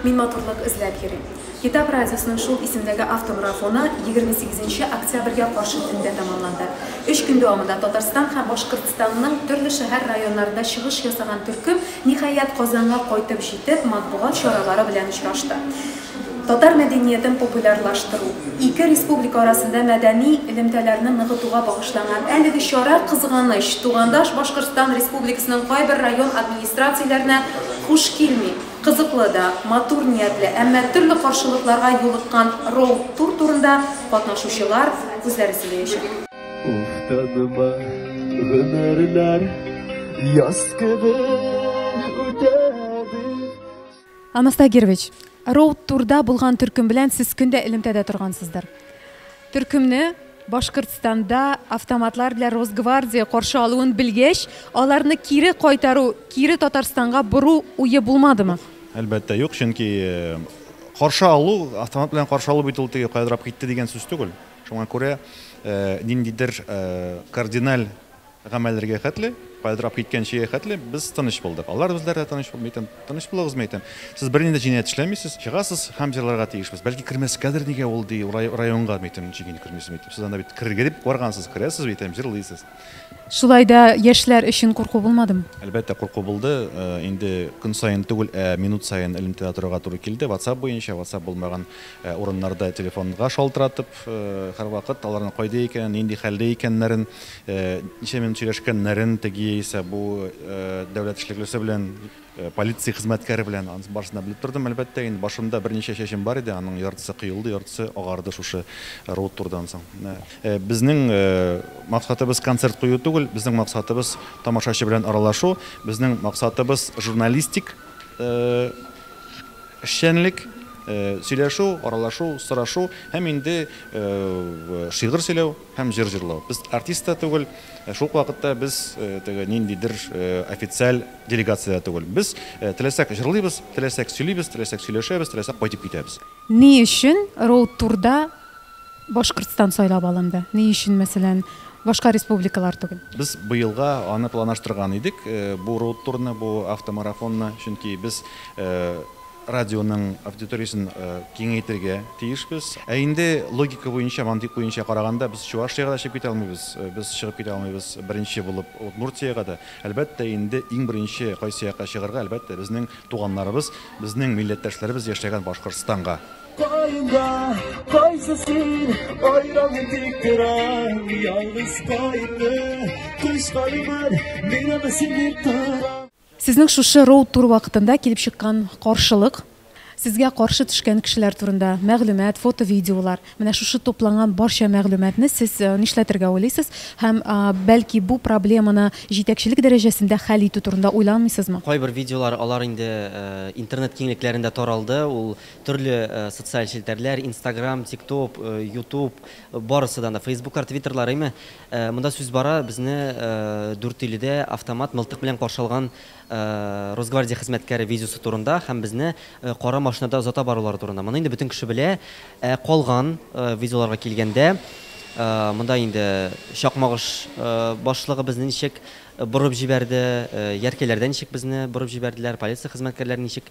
Мин матурлык эзләп йөрим. Китап радиосының шул исемдәге автомарафоны 28 нче октябрьгә каршы төндә тәмамланды. Өч көн дәвамында Татарстан һәм Башкортстанның төрле шәһәр-районнарында чыгыш ясаган төркем, ниһаять, Казанга кайтып җитеп, матбугат чаралары белән очрашты. Татар мәдәниятен популярлаштыру, ике республика арасында мәдәни элемтәләрне ныгытуга багышланган әлеге чара, кызганыч, тугандаш Башкортстан Республикасының кайбер район администрацияләренә хуш килми. Кызыклы да, матур ниятле, әмма төрле каршылыкларга юлыккан роуд-тур турында катнашучылар үзләре сөйләячәк. Уф, таныма, гомерләр яз кебек үтәде. Анастас Герович, Роуд Турда булган төркем белән сез көн дә элемтәдә торгансыздыр. Төркемне Башкортстанда автоматлар белән Росгвардия каршы алуын белгәч, аларны кире кайтару, кире Татарстанга бору уе булмадымы? Әлбәттә, юк, чөнки каршы алу, автомат белән каршы алу бит ул теге каядырап китте дигән сүз түгел. Шуңа күрә ниндидер кардиналь Гамәлләргә хәтле, кайлдырап киткәнчегә хәтле без тыныч булдык. Алар үзләре дә тыныч булды. Әйтәм, тыныч булыгызмы, әйтәм. Сез бернинди җинаять эшләмисез, чыгасыз һәм җырларга тиешбез. Бәлки кермәскәдер, нигә ул, ди, районга, әйтәм, ничек инде кермисең, әйтәм. Сез анда бит керергә дип баргансыз, керәсез, әйтәм, җырлыйсыз. Шулай да яшьләр өчен курку булмадымы? Әлбәттә, курку булды. Инде көн саен түгел, ә минут саен элемтәдә торырга туры килде. Ватсап буенча, ватсап булмаган урыннарда телефонга шалтыратып. Һәрвакыт аларның кайда икәнен, нинди хәлдә икәннәрен, ничә минут сөйләшкәннәрен, теге яисә бу дәүләт эшлеклесе белән, полиция хезмәткәре белән, анысын барысын да белеп тордым, әлбәттә. Инде башымда берничә чәчем бар иде, аның яртысы кыелды, яртысы агарды шушы роуд-турдан соң. Менә безнең максатыбыз концерт кую түгел, безнең максатыбыз тамашачы белән аралашу, безнең максатыбыз журналистик Эшчәнлек, сөйләшү, аралашу, сорашу һәм инде шигырь сөйләү һәм җыр җырлау. Без артист та түгел, шул ук вакытта без теге ниндидер официаль делегация дә түгел. Без теләсәк җырлыйбыз, теләсәк сөйлибез, теләсәк сөйләшәбез, теләсәк кайтып китәбез. Ни өчен Роуд Турда Башкортстан сайлап алынды. Ни өчен, мәсәлән, башка республикалар түгел? Без быелга аны планаштырган идек, бу роудтурны, бу автомарафонны, чөнки без радионың аудиториясен киңәйтергә тиешбез. Ә инде логика буенча, мантыйк буенча караганда, без Чувашиягә дә чыгып китә алмыйбыз, без чыгып китә алмыйбыз беренче булып Удмуртиягә дә. Әлбәттә инде, иң беренче кайсы якка чыгарга, әлбәттә, безнең туганнарыбыз, безнең милләттәшләребез яшәгән Башкортстанга. Кайда, кайсы син, айраны тиктирән, ялгыз кайны, кыш калиман, мина бесин диктирән. Сезнең шушы роуд тур вакытында килеп чыккан каршылык, сезгә каршы төшкән кешеләр турында мәгълүмат, фото, видеолар, менә шушы тупланган барча мәгълүматны сез э, нишләтергә уйлыйсыз һәм э, бәлки бу проблеманы җитәкчелек дәрәҗәсендә хәл итү турында уйламыйсызмы? Кайбер видеолар алар инде э, интернет киңлекләрендә таралды, ул Төрле социаль челтәрләр, инстаграм, тиктоп, ютуб, барысыдан да, фейсбуклар, твиттерлар, әйме, монда сүз бара, безне Дүртөйледә автомат мылтык белән каршы алган Росгвардия хезмәткәре видеосы турында һәм безне кара машинада озата барулары турында. Моны инде бөтен кеше белә. Ә калган видеоларга килгәндә, монда инде Чакмагыш башлыгы безне ничек Борып җибәрде, Яркәйләрдә ничек безне борып җибәрделәр, полиция хезмәткәрләре ничек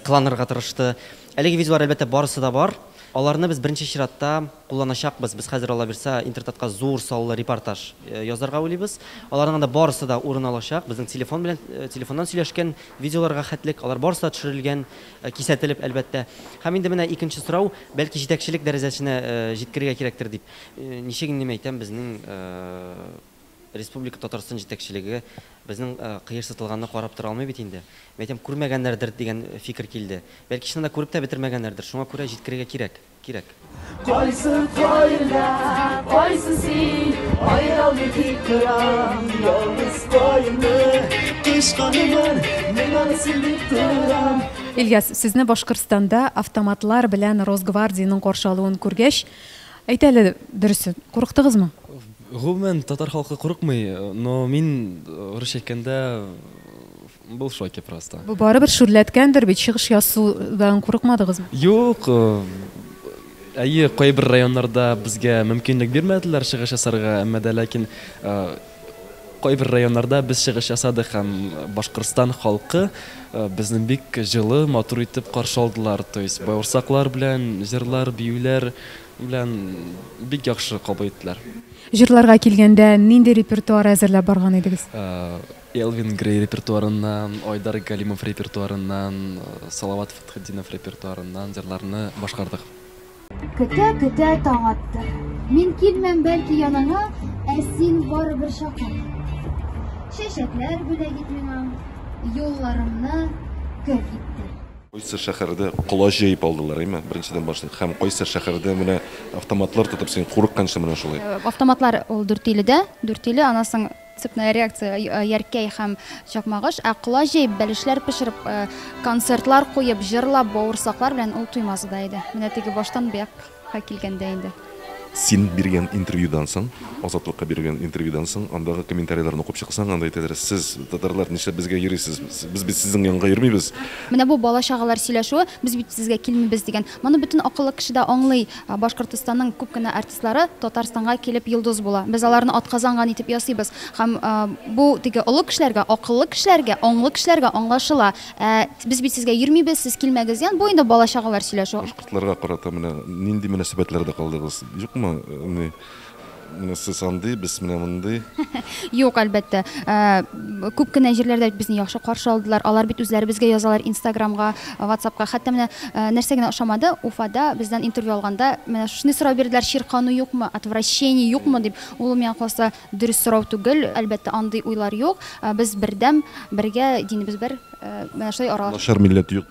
кыланырга тырышты. Әлеге видеолар, әлбәттә, барысы да бар. Аларны без беренче чиратта кулланачакбыз. Без хәзер, аллабирса, Интертатка зур саллы репортаж язарга уйлыйбыз. Аларның анда барысы да урын алачак. Безнең телефон белән, телефоннан сөйләшкән видеоларга хәтлек, алар барысы да төшерелгән, кисәтелеп, әлбәттә. Һәм инде менә икенче сорау, бәлки җитәкчелек дәрәҗәсенә җиткерергә кирәктер дип. Ничек инде мин әйтәм, безнең. Республика Татарстан җитәкчелеге безнең кыерсытылганны карап тора алмый бит инде. Мин әйтәм, күрмәгәннәрдер дигән фикер килде. Бәлки чыннан да күреп тә бетермәгәннәрдер, шуңа күрә җиткерергә кирәк. Кирәк. Кайсы каенда кайсы син, аералмый тик торам, ялгыз каенны кычканымын, мин аны син дип торам. Ильяс, сезне Башкортстанда автоматлар белән Росгвардиянең каршы алуын күргәч, әйт әле дөресен, курыктыгызмы? Гомумән, татар халкы курыкмый, но мин, русча әйткәндә, был в шоке просто. Бу барыбер шүрләткәндер бит, чыгыш ясудан курыкмадыгызмы? Юк, әйе, кайбер районнарда безгә мөмкинлек бирмәделәр чыгыш ясарга, әмма дә ләкин кайбер районнарда без чыгыш ясадык һәм Башкортстан халкы безне бик җылы, матур итеп каршы алдылар, то есть бавырсаклар белән, җырлар, биюләр, Белән бик яхшы кабул иттеләр. Җырларга килгәндә, нинди репертуар әзерләп барган идегез? Элвин Грей репертуарыннан, Айдар Галимов репертуарыннан, Салават Фәтхетдинов репертуарыннан җырларны башкардык. Көтә-көтә таң атты. Мин килмәм бәлки яныңа, Ә син барыбер чакыр. Чәчәкләр бүләк ит миңа, Юлларымны көр итте. Кайсы шәһәрдә колач җәеп алдылар, әйме? Беренчедән башлыйк. Һәм кайсы шәһәрдә менә автоматлар тотып син курыкканчы менә шулай. Автоматлар ул Дүртөйледә, Дүртөйле, аннан соң цепная реакция, Яркәй һәм Чакмагыш. Ә колач җәеп, бәлешләр пешереп, концертлар куеп, җырлап, бавырсаклар белән ул Туймазыда иде. Менә теге баштан бу як. Ка килгәндә инде. Син биргән интервьюдан соң, Азатлыкка биргән интервьюдан соң, андагы комментарийларны укып чыксаң, анда әйтәләр, сез, татарлар, нишләп безгә йөрисез, без бит сезнең янга йөрмибез. Менә бу бала-чагалар сөйләшүе, без бит сезгә килмибез дигән. Моны бөтен акыллы кеше дә аңлый. Башкортостанның күп кенә артистлары Татарстанга килеп йолдыз була. Без аларны атказанган итеп ясыйбыз. Һәм бу теге олы кешеләргә, акыллы кешеләргә, аңлы кешеләргә аңлашыла. Ә без бит сезгә йөрмибез, сез килмәгез дигән, бу инде бала-чагалар сөйләшүе. Картларга карата менә нинди мөнәсәбәтләрдә калдыгыз? Юкмы, ни, менә сез андый, без менә мондый. Юк, әлбәттә. Күп кенә җирләрдә безне яхшы каршы алдылар. Алар бит үзләребезгә язалар инстаграмга, ватсапка. Хәтта менә нәрсә генә ошамады, Уфада бездән интервью алганда, менә шушындый сорау бирделәр, чиркану юкмы, отвращение юкмы дип. Ул, миңа калса, дөрес сорау түгел. Әлбәттә, андый уйлар юк. Без бердәм, бергә, динебез бер. Менә шулай аралашып. Начар милләт юк.